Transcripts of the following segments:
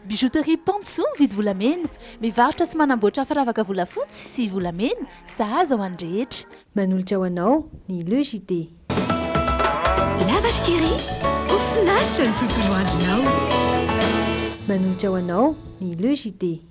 Bijouterie Pantso mividy volamena, mivarotra sy manamboatra firavaka volafotsy sy volamena, sahaza ho an'ny rehetra. Manolotra ho anao ny Le JT. La Vache Qui Rit, ho finaritra ny tontolo andronao! Manolotra ho anao ny Le JT.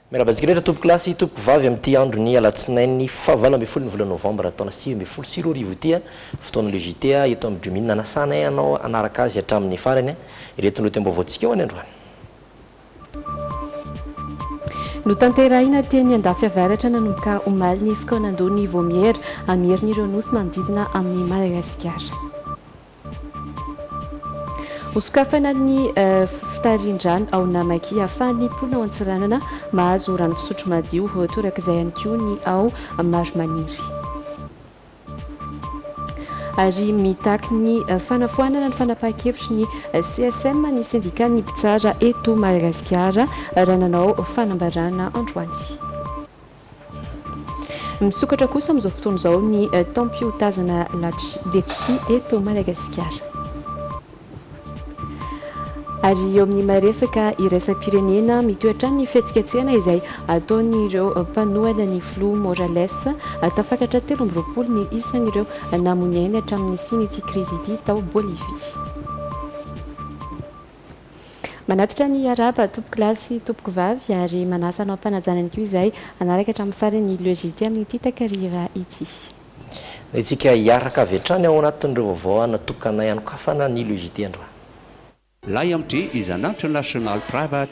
Miarahaba antsika rehetra tompoko lahy sy tompoko vavy amin'ity andron'ny alatsinainy fahavalo ambin'ny folon'ny volana novambra taona sivy ambin'ny folo sy roa arivo ity a! fotoana le JT a! eto amin'ny Drewmin nanasanay anao hanaraka azy hatramin'ny farany a! ireto lohatenim-baovaontsika ho an'ny androany. Notanterahina teny Andafiavaratra nanomboka omaly ny fikaonandoha ny Vaomiera hamerina ireo nosy manodidina amin'i Madagasikara. Hosokafana ny fitarihan-drano ao Namakia ahafahan'ny mponina ao Antsiranana mahazo rano fisotro madio, ho torak'izay ihany koa ny ao Marimaniry. Ary mitaky ny fanafoanana ny fanapahan-kevitry ny CSM ny sendikan'ny mpitsara eto Madagasikara, raha nanao fanambarana androany. Misokatra kosa amin'izao fotoana izao ny taom-piotazana latchy letchi eto Madagasikara. Ary eo amin'ny maha resaka iraisam-pirenena, mitohy hatrany ny fihetsiketsehana izay ataon'ireo mpanohana ny filoha Morales. Tafakatra telo amby roapolo ny isan'ireo namoy ny ainy hatramin'ny nisian'ity krizy ity tao Bolivie. Manatitra ny hiarahaba tompoko lahy sy tompoko vavy ary manasa hanao am-panajana ihany koa izahay hanaraka hatramin'ny farany ny Le JT amin'ity takariva ity. Entintsika hiaraka avy hatrany ao anatin'ireo vaovao hanatokanay hanokafana ny Le JT androany. Lay am Dry is an international private.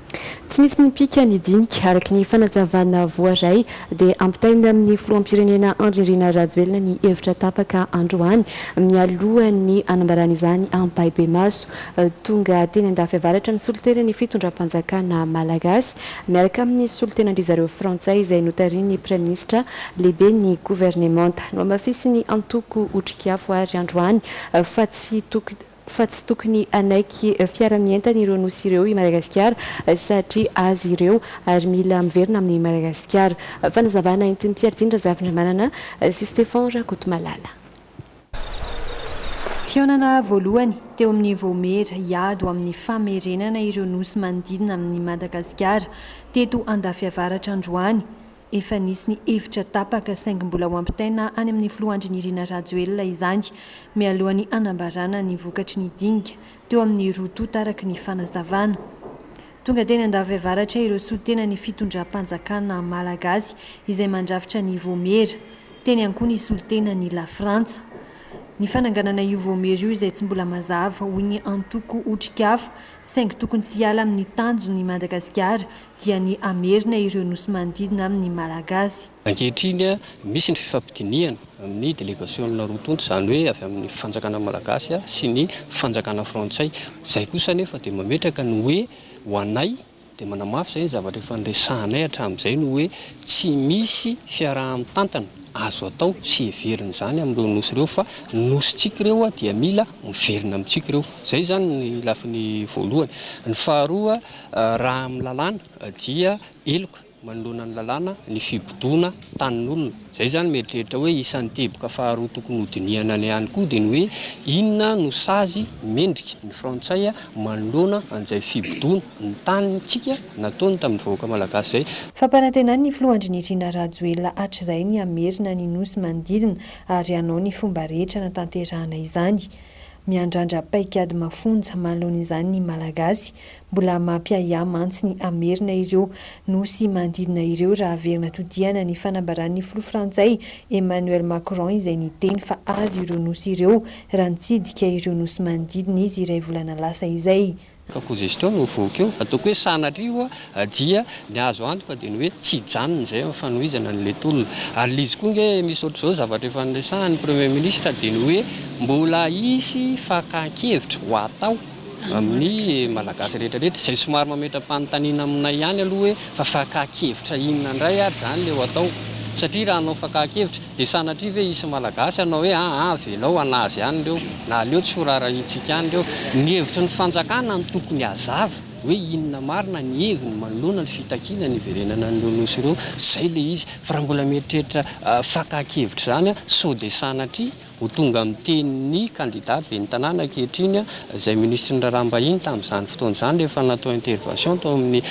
Tsy nisy nipika ny dinika. Araka ny fanazavana voaray dia ampitaina amin'ny filoham-pirenena Andry Nirina Rajoelina ny hevitra tapaka androany mialohan'ny hanambarany izany ampahibemaso. Tonga teny Andafy Avaratra ny solontenan'ny fitondram-panjakana malagasy miaraka amin'ny solontenan-dry zareo frantsay izay notarihin'ny praiminisitra lehiben'ny governemanta. Nohamafisin'ny antoko Otrikafo àry androany fa tsy tokony fa tsy tokony hanaiky fiara mientan ireo nosy ireo i Madagasikara satria azy ireo ary mila miverina amin'i Madagasikara. Fanazavana entin'i Mpiaritin Razafindramanana sy Stefan Rakotomalala. Fihaonana voalohany teo amin'ny Vaomiera hiado amin'ny famerenana ireo nosy manodidina amin'i Madagasikara teto Andafiavaratra androany Efa nisy ny hevitra tapaka saingy mbola ho ampitaina any amin'ny filoha Andry Nirina Rajoelina izany mialohan'ny hanambarana ny vokatry ny dinika teo amin'ny roa tonta araka ny fanazavana. Tonga teny Andafiavaratra ireo solontenan'ny fitondram-panjakana malagasy izay mandrafitra ny Vaomiera. Teny ihany koa ny solontenan'i Lafrantsa. Ny fananganana io Vaomiera io izay tsy mbola mazava hoy ny antoko Otrikafo saingy tokony tsy hiala amin'ny tanjony i Madagasikara dia ny hamerina ireo nosy manodidina amin'ny Malagasy. Ankehitriny, misy ny fifampidinihana amin'ny delegasionina roa tonta, izany hoe avy amin'ny fanjakana Malagasy sy ny fanjakana Frantsay. Izay kosa anefa dia mametraka ny hoe, ho anay, dia manamafy izay ny zavatra efa niresahanay hatramin'izay ny hoe, tsy misy fiaraha-mitantana azo atao sy heverina izany amin'ireo nosy ireo fa ny nosintsika ireo dia mila miverina amintsika ireo. Izay izany ny lafiny voalohany. Ny faharoa. Raha amin'ny lalàna dia heloka manoloana ny lalàna ny fibodoana tanin'olona. Izay izany mieritreritra hoe isan'ny teboka faharoa tokony hodinihana ny ihany koa dia ny hoe inona no sazy mendrika ny frantsay manoloana an'izay fibodoana ny tanintsika nataony tamin'ny vahoaka malagasy izay. Fampanantenan'ny filoha Andrinirina Rajoelina hatrizay ny hamerina ny nosy manodidina ary hanao ny fomba rehetra hanatanterahana izany. Miandrandra paikady mafonja manoloana izany ny Malagasy. Mbola mampiahiahy mantsy ny hamerina ireo nosy manodidina ireo raha haverina todihana ny fanambaran'ny filoha frantsay Emmanuel Macron izay niteny fa azy ireo nosy ireo raha nitsidika ireo nosy manodidina izy iray volana lasa izay. Ka ko zay sitraho no voky eo, ataoko hoe sanatria ho'a, dia ny azo antoka dia ny hoe tsy hijanona izay amin'ny fanohizana ny letolona. Ary lzy koa nge misy ohatr'izao zavatra efa noresahan'ny Premier Ministre dia ny hoe mbola hisy fakan-kevitra ho atao amin'ny Malagasy rehetra rehetra. Izay somary mametra-panontaniana aminay ihany aloha hoe fa fakan-kevitra inona indray ary izany ilay ho atao? Satria raha hanao fakan-kevitra, Dia sanatria ve hisy Malagasy hanao hoe aa avelao hanazy any ireo na aleo tsy ho raharahiantsika any ireo? Ny hevitry ny fanjakana no tokony hazava hoe inona marina ny heviny manoloana ny fitakiana ny hiverenana an'ireo nosy ireo, izay ilay izy. Fa raha mbola mieritreritra fakan-kevitra izany sao dia sanatria ho tonga amin'ny tenin'ny kandida ben'ny tanàna ankehitriny izay minisitry ny raharaham-bahiny tamin'izany fotoana izany rehefa natao intervention tao amin'ny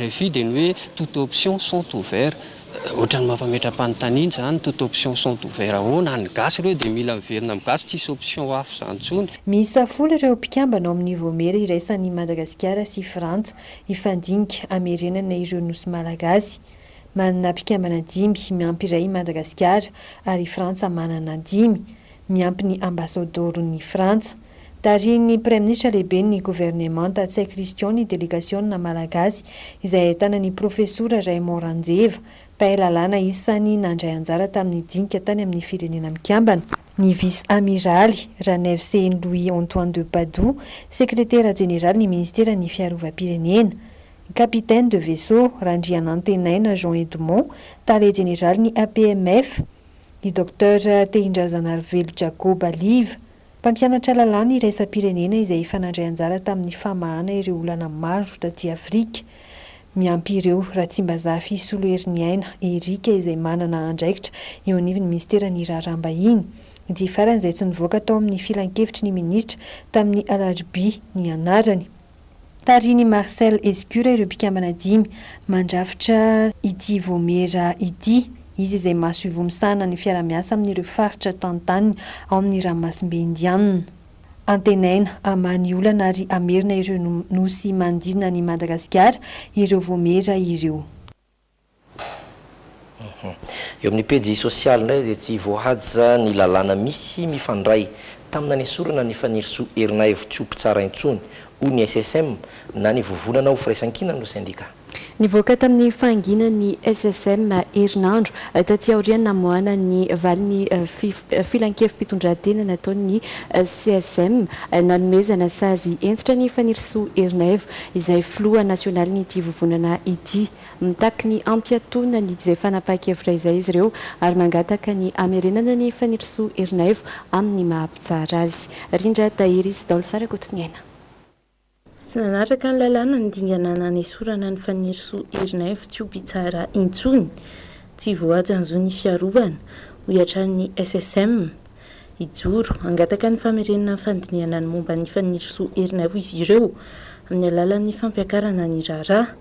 rfi dia ny hoe toute option sont ouverts. Otrany mampametram-panontaniana zany, toute option sont ouvert ahoana? Any gasy reo de mila miverina am gasy tsisy option hafa zany tsony. Miisa folo ireo mpikambana ao amin'ny Vaomiera iraisan' i Madagasikara sy Frantsa hifandinika hamerenana ireo Nosy Malagasy. Manana mpikambana dimy miampy iray i Madagasikara ary i Frantsa manana dimy. miampy ny Ambasadoron'i Frantsa. Tarihin'ny Praiminisitra Lehiben'ny Governemanta Tsay Christian ny delegasiona malagasy izay ahitana ny Profesora Raymond Ranjeva, mpahay lalàna isan'ny nandray anjara tamin'ny dinika tany amin'ny Firenena Mikambana, ny Vice-Amiraly Ranaivosehen'i Louis Antoine de Padoue, Sekretera Jeneralin'ny Ministeran'ny Fiarovam-pirenena, Capitaine de Vaisseau Randrianantenaina Jean Edmond, Tale Jeneralin'ny APMF, ny Docteur Tehindrazanarivelo Jacob Aliva, mpampianatra lalàna iraisam-pirenena izay efa nandray anjara tamin'ny famahana ireo olana maro taty Afrika, miampy ireo Ratsimbazafi Soloheriniaina Eric izay manana andraikitra eo anivon'ny minisiteran'ny Raharaham-bahiny, ity farany izay tsy nivoaka tao amin'ny filankevitry ny minisitra tamin'ny alarobia ny anarany. Tarihin'i Marcel Escure ireo mpikambana dimy mandrafitra ity Vaomiera ity. Izy izay masoivoho misahana ny fiarahamiasa amin'ireo faritra tantaniny ao amin'ny ranomasimbe Indianina. Antenaina hamaha ny olana ary hamerina ireo Nosy manodidina an'i Madagasikara ireo Vaomiera ireo. Eo amin'ny pejy sosialy indray dia tsy voahaja ny lalàna misy mifandray tamina nesorana an'i Fanirisoa Erinaivo tsy ho mpitsara intsony, hoy ny SSM, na ny vovonana ho firaisankinany no sendika. Nivoaka tamin'ny fahanginany ny SSM herinandro taty aorian'ny namoahana ny valin'ny filankevi-pitondrantena nataon'ny CSM nanomezana sazy hentitra an'i Fanirisoa Erinaivo izay filoha nasionalin'ity vovonana ity. Mitaky ny hampiatoana ny izay fanapahan-kevitra izay izy ireo ary mangataka ny hamerenana an'i Fanirisoa Ernaivo amin'ny maha mpitsara azy. Rindra Tahiry sy Daolfa Rakotoniaina. Tsy nanaraka ny lalàna ny dingana nanesorana an'i Fanirisoa Ernaivo tsy ho mpitsara intsony. Tsy voahaja ny zon'ny fiarovana, hoy hatrany ny SSM. hijoro. Hangataka ny famerenana ny fandinihana ny momba ny fanirisoa herin'aivo izy ireo, amin'ny alalan'ny fampiakarana ny raharaha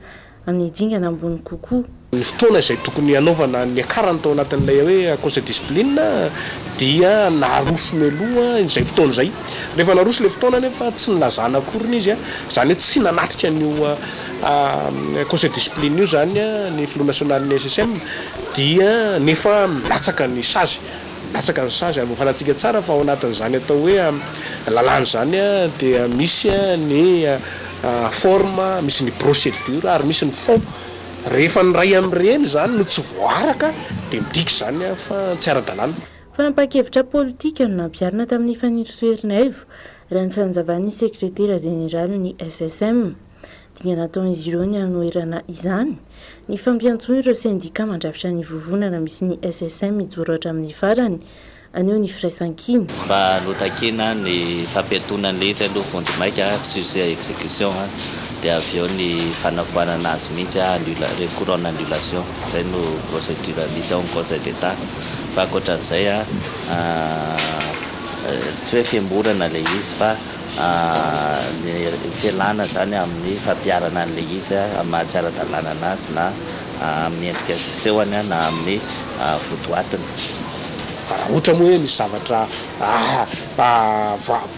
amin'ny dingana ambony kokoa. Ny fotoana izay tokony hanaovana ny niakarany tao anatin'ilay hoe Conseil Discipline dia naroso mialoha izay fotoana izay. Rehefa naroso ilay fotoana anefa tsy nilazana akoriny izy, izany hoe tsy nanatrika an'io Conseil Discipline io izany ny Filoha Nasionalin'ny SSM dia nefa nilatsaka ny sazy. Latsaka ny sazy ary voafarantsika tsara fa ao anatin'izany atao hoe lalàna izany dia misy ny forme, misy ny procédure ary misy ny fond. Rehefa ny iray amin'ireny izany no tsy voaaraka dia midika izany fa tsy ara-dalàna. Fanapahan-kevitra politika no nampiharina tamin'ny fanirisoa Ernaivo, raha ny fanazavan'ny sekretera jeneralin'ny SSM. Dingana ataon'izy ireo ny hanoherana izany. Nifampiantsoa ireo sendika mandrafitra ny vovonana misy ny SSM hijoro hatramin'ny farany, haneho ny firaisankina. Mba notakina ny fampiantonana izy aloha vonjimaika, suce à execution, dia avy eo ny fanafoanana azy mihitsy, annula, recours en annulation, izay no procédure misy ao amin'ny Conseil d'Etat. Fa ankoatra an'izay, tsy hoe fihemorana ilay izy fa. ny fialana izany amin'ny fampiharana an'ilay izy amin'ny maha tsy ara-dalàna an'azy na amin'ny endrika sy fisehony na amin'ny votoatiny. Fa raha ohatra moa hoe misy zavatra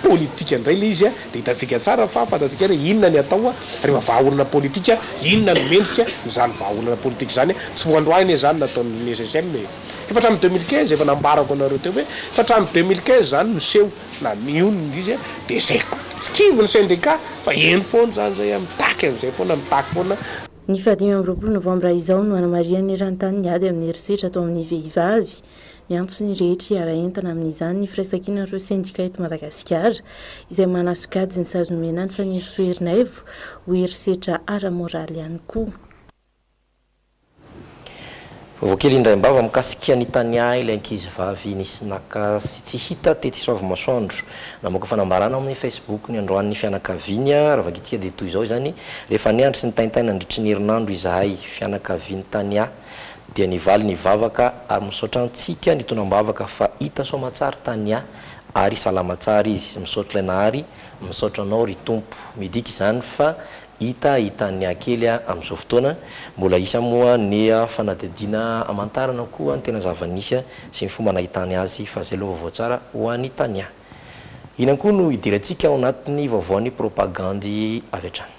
politika indray ilay izy dia hitantsika tsara fa fantatsika hoe inona ny atao rehefa vahaolana politika, inona ny mendrika izany vahaolana politika izany. Tsy vao androany anie izany nataon'ny SSM e! Efa hatramin'ny deux mille quinze, efa nambarako anareo teo hoe efa hatramin'ny deux mille quinze izany no seho. na mionona izy dia zay koa. Tsy kivy ny syndicat fa eny foana izany zay an, mitaky an'izay foana, mitaky foana. Ny faha dimy amby roapolo novambra izao no hanamarihan'ny eran-tany ny ady amin'ny herisetra atao amin'ny vehivavy. Miantso ny rehetra hiara entana amin'izany ny firaisankinan'ireo sendika eto Madagasikara izay manasokajy ny sazy nomena an'i Fanirisoa Ernaivo ho herisetra ara-moraly ihany koa. Vaovao kely indraim-bava mikasika ny taniahy ilay ankizivavy nisy naka sy tsy hita tetsy Soavimasoandro. Namoaka fanambarana ao amin'ny Facebook ny androany ny fianakaviany. Raha vakintsika dia toy izao izany, Rehefa niandry sy nitaintaina nandritry ny herinandro izahay, fianakavian'ny taniahy, dia nivaly ny vavaka ary misaotra antsika nitonam-bavaka fa hita soama tsara taniahy ary salama tsara izy. Misaotra ilay Nahary. Misaotra anao ry Tompo. Midika izany fa Hita hitan'ny ankely amin'izao fotoana, mbola hisy moa ny fanadihadiana hamantarana koa ny tena zava-nisy sy ny fomba nahitany azy fa izay aloha vaovao tsara ho an'i Tania. Inona koa no hidirantsika ao anatin'ny vaovaon'ny propagandy avy hatrany?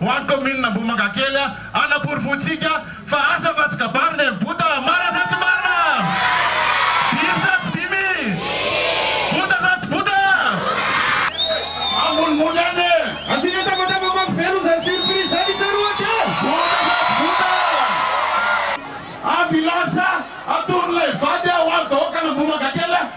Ho an'ny kaominina Ambohimangakely hanaporofoantsika fa asa fa tsy kabary ny aim-bota, marina sa tsy marina? Dimy sa tsy dimy? Bota sa tsy bota? Ambonimbony any e! Asiana tabataba mampivelona izany surprise izany isika roa dia. Bota sa tsy bota? Ambila sa atoron'ilay vady ho an'ny vahoakan'Ambohimangakely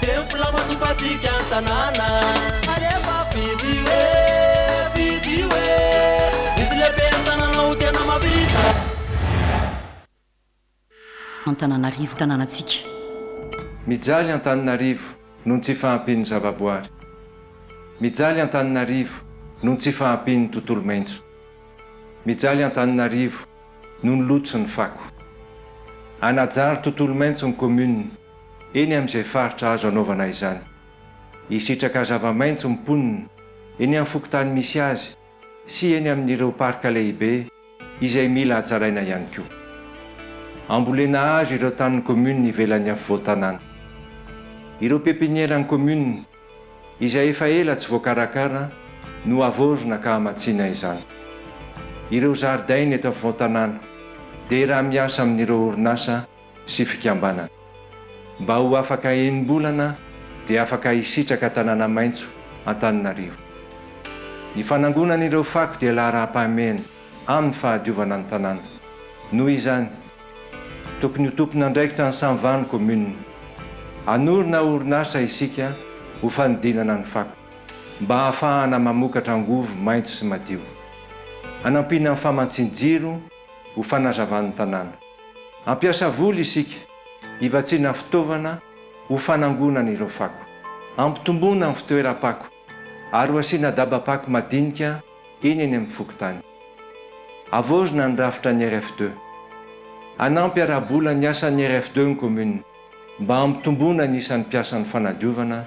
Tempola matompantsika ny tanàna. Alefa fidio e, fidio e. Izy lehibe ny tanànao tena mahavita. Antananarivo tanànantsika. Mijaly Antananarivo noho ny tsy fahampian'ny zavaboary. Mijaly Antananarivo noho ny tsy fahampian'ny tontolo maitso. Mijaly Antananarivo noho ny loto sy ny fako. Hanajary tontolo maitso ny commune. eny amin'izay faritra azo anaovana izany. Hisitraka zava-maitso ny mponina eny amin'ny fokontany misy azy sy eny amin'ireo parka lehibe izay mila hatsaraina ihany koa. Hambolena hazo ireo tanin'ny kaominina ivelan'ny afovoan-tanàna. Ireo pepinieran'ny kaominina izay efa ela tsy voakarakara no havaozina ka hamatsiana izany. Ireo zaridaina eto afovoan-tanàna dia raha miasa amin'ireo orinasa sy fikambanana. Mba ho afaka enim-bolana dia afaka hisitraka tanàna maitso Antananarivo. Ny fanangonana ireo fako dia laharam-pahamehana amin'ny fahadiovana ny tanàna. Noho izany, tokony ho tompon'andraikitra ny Cent vingt communes. Hanorina orinasa isika ho fanodinana ny fako, mba hahafahana mamokatra angovo maitso sy madio. Hanampiana ny famantsian-jiro ho fanazavan'ny tanàna. Ampiasa voly isika hivatsiana fitaovana ho fanangonana ireo fako. Ampitomboina ny fitoeram-pako ary ho asiana daba-pako madinika eny eny amin'ny fokontany. Havaozina ny rafitra ny RFD. Hanampy ara-bola ny asan'ny RFD ny kaominina mba hampitomboana ny isan'ny mpiasan'ny fanadiovana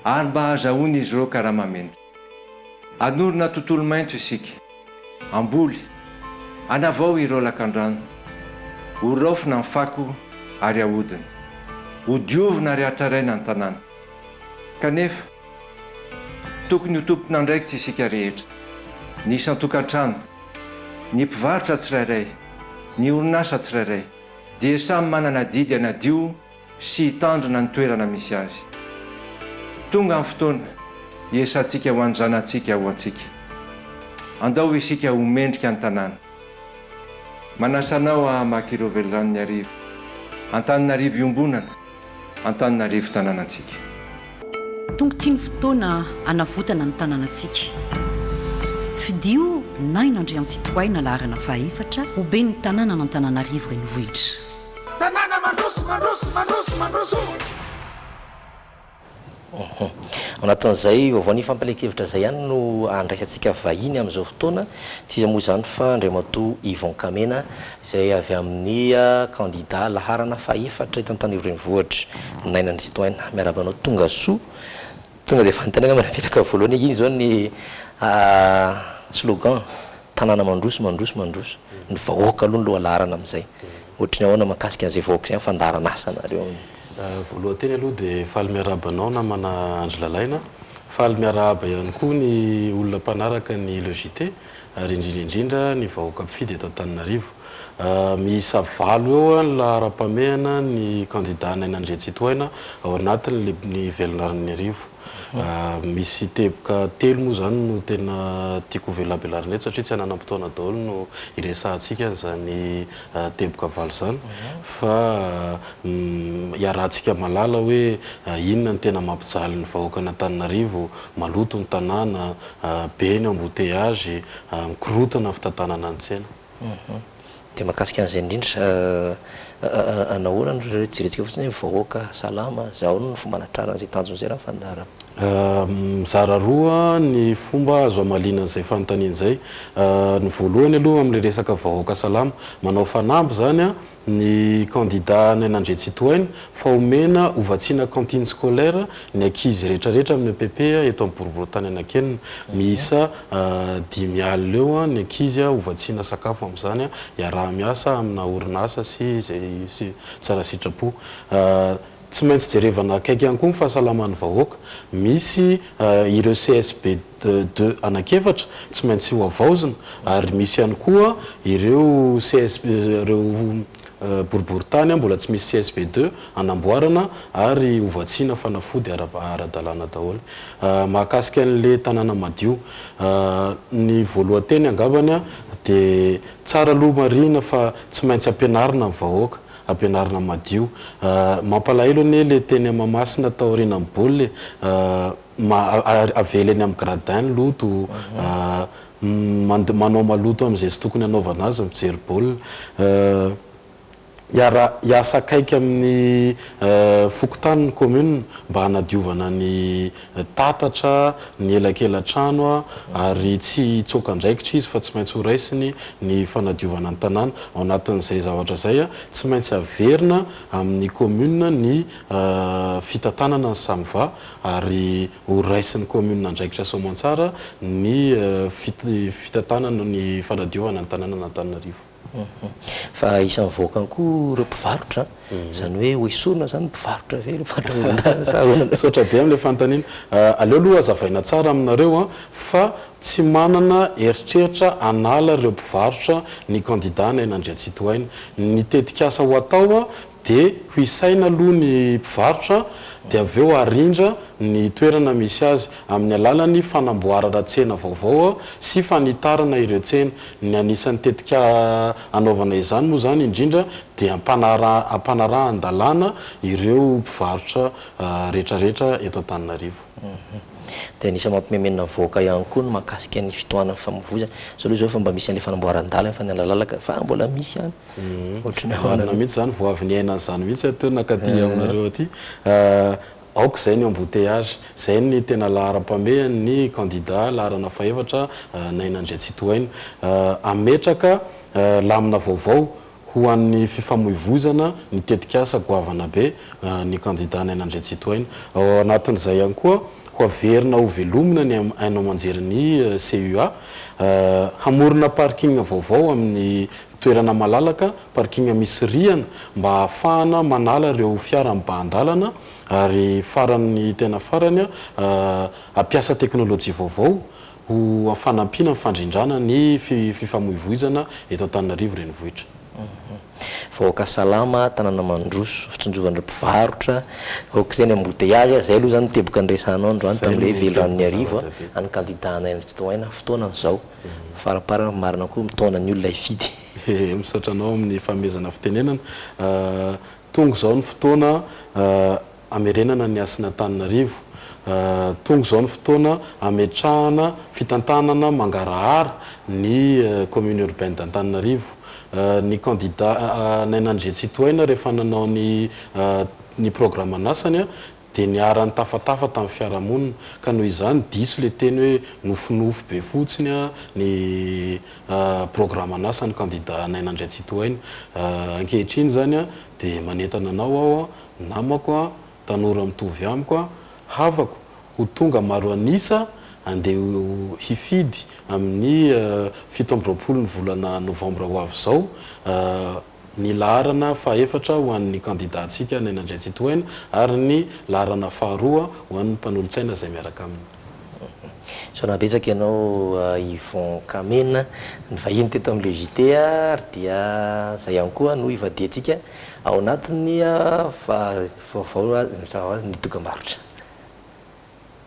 ary mba hahazahoan'izy ireo karama mendrika. Hanorina tontolo maitso isika. Hamboly. Hanavao ireo lakandrano. Ho raofina ny fako ary hahodina. Ho diovina ary hatraraina ny tanàna. Kanefa, tokony ho tompon'andraikitra isika rehetra, ny isan-tokantrano, ny mpivarotra tsirairay, ny orinasa tsirairay dia samy manana adidy hanadio sy hitandrina ny toerana misy azy. Tonga ny fotoana hiesantsika ho an'ny zanatsika ho antsika. Andao isika ho mendrika ny tanàna. Manasa anao hamaky ireo veliranon'ny arivo. Antananarivo iombonana, Antananarivo tanànantsika. Tonga ity ny fotoana hanavotana ny tanànantsika. Fidio Naina Andriantsitohaina laharana fahaefatra ho ben'ny tanànan'Antananarivo Renivohitra. Tanàna mandroso, mandroso, mandroso, mandroso o! Uhum. Ao anatin'izay vaovao ny fampielen-kevitra izay ihany no andraisantsika vahiny amin'izao fotoana. Tsy iza moa izany fa Andriamatoa Yvon Kamena izay avy amin'ny kandida laharana fahefatra eto Antanio renivohitra. Naina Andry Sitohaina, miarahaba anao tonga soa. Tonga dia fanontaniana no napetraka voalohany hoe inona izao ny slogan? Tanàna mandroso, mandroso, mandroso. Ny vahoaka aloha no lohalaharana amin'izay. Ohatry ny ahoana mahakasika an'izay vahoaka izay amin'ny fandaharan'asa nareo? Voalohany teny aloha dia faly miarahaba anao namana Andry Lalaina. Faly miarahaba ihany koa ny olona mpanaraka ny Le JT ary indrindra indrindra ny vahoaka mpifidy eto Antananarivo. Miisa valo eo ny laharam-pamehana ny kandida Naina Andriantsitohaina ao anatin'ny ny velon'Arnin'Iarivo. Misy teboka telo moa izany no tena tiako hovelabelarina eto satria tsy hananam-potoana daholo no hiresahantsika an'izany teboka valo izany fa hiarahantsika mahalala hoe inona no tena mampijaly ny vahoakan'Antananarivo, maloto ny tanàna, be ny embouteillage, mikorontana ny fitantanana ny tsena. Dia mahakasika an'izay indrindra, nahoana no rerentsika fotsiny hoe vahoaka salama, izay ahoana no fomba hanatrarana izay tanjona izay Rafandarana? Mizara roa ny fomba azo hamaliana an'izay fanontaniana izay. Ny voalohany aloha amin'ilay resaka vahoaka salama, manao fanamby izany ny kandida Naina Andriantsitohaina fa homena ho vatsiana cantine scolaire ny ankizy rehetrarehetra amin'ny epp eto amin'ny boriborintany Anakenina. Miisa dimy alina eo ny ankizy ho vatsiana sakafo amin'izany iaraha-miasa amina orinasa sy izay tsara sitrapo. Tsy maintsy jerevana akaiky ihany koa ny fahasalaman'ny vahoaka. Misy ireo CSBD. de deux anak'efatra tsy maintsy ho avaozina ary misy ihany koa ireo CSP ireo boriboritany mbola tsy misy CSP deux anamboarana ary ho vatsiana fanafody ara-dalàna daholo. Mahakasika an'le tanàna madio ny voalohan-teny angambany de tsara aloha marihina fa tsy maintsy ampianarina ny vahoaka, ampianarina madio. Mampalahelo anie le teny Mahamasina taorianan'ny baolina e! ma avela eny amin'ny gradin ny loto mande manao maloto amin'izay tsy tokony hanaovana azy mijery baolina hiara hiasa akaiky amin'ny fokontany ny commune mba hanadiovana ny tatatra ny elakelatrano ary tsy hitsoaka andraikitra izy fa tsy maintsy ho raisiny ny fanadiovana ny tanàna ao anatin'izay zavatra izay tsy maintsy averina amin'ny commune ny fitantanana ny samva ary ho raisin'ny kaominina andraikitra soamantsara ny fitantanana ny fanadiovana ny tanànan'Antananarivo. Fa isan'ny vahoakany koa ireo mpivarotra, izany hoe hoesorina izany ny mpivarotra ve ireo mpivarotra amoron-dalana sa ahoana? Misaotra be amin'ilay fanontaniana. Aleo aloha hazavaina tsara aminareo fa tsy manana eritreritra hanala ireo mpivarotra ny kandidà Naina Andriantsitohaina. Ny tetikasa ho atao dia ho isaina aloha ny mpivarotra dia avy eo arindra ny toerana misy azy amin'ny alalan'ny fanamboarana tsena vaovao sy fanitarana ireo tsena. Ny anisan'ny tetika anaovana izany moa izany indrindra dia hampanarahan-dalàna ireo mpivarotra rehetrarehetra eto Antananarivo. Dia anisan'ny mampimenomenona ny vahoaka ihany koa ny mahakasika ny fitohanan'ny famovoizana. Izao aloha izao efa mba misy an'ilay fanamboaran-dalana, fanalalalaka, fa mbola misy ihany. Ohatry ny ahoana Marina aloha. mihitsy izany, vao avy niaina an'izany mihitsy aho teo nankaty aminareo aty. Aoka izay ny embouteillage, izay ny tena laharam-pamehany ny candidat laharana fahefatra Naina Andriantsitohaina. Hametraka lamina vaovao ho an'ny fifamoivoizana ny tetikasa goavana be ny candidat Naina Andriantsitohaina. Ao anatin'izay ihany koa, ho averina ho velomina ny haino aman-jerin'ny CUA, hamorona parking vaovao amin'ny. Toerana malalaka, parking misy rihana mba ahafahana manala ireo fiara mibahan-dalana ary faran'ny tena farany hampiasa teknolojia vaovao ho fanampiana amin'ny fandrindrana ny fifamoivoizana eto Antananarivo renivohitra. Vahoaka salama, tanana mandroso, fitsinjovan'ireo mpivarotra, aok'izay ny embouteillages a, zay aloha zany ny teboka niresahanao androany tamin'ilay hoe velirano ny hariva a, any kandida anay any Tsitohaina fotoana an'izao. Faramparany marina koa mitaona ny olona hifidy. Misaotra anao amin'ny fanomezana fitenenana. Tonga izao ny fotoana hamerenana ny hasin'Antananarivo. Tonga izao ny fotoana hametrahana fitantanana mangarahara ny commune urbaine d'Antananarivo. Ny candidat Naina Andriantsitohaina rehefa nanao ny ny programan'asany Dia niharan'ny tafatafa tamin'ny fiarahamonina. Ka noho izany, diso ilay teny hoe nofinofy be fotsiny ny programan'asan'ny kandida Naina Andriantsitohaina. Ankehitriny izany dia manentana anao aho, namako, tanora mitovy amiko, havako, ho tonga maro an'isa handeha hifidy amin'ny fito amby roapolo ny volana novambra ho avy izao, ny laharana fahefatra ho an'ny kandidantsika Naina Andriantsitohaina ary ny laharana faharoa ho an'ny mpanolotsaina izay miaraka aminy. Misaona betsaka ianao Yvon Kamena nivahiny teto amin'ilay JT ary dia izay ihany koa no hivadihantsika ao anatin'ny vaovao, ny dokam-barotra.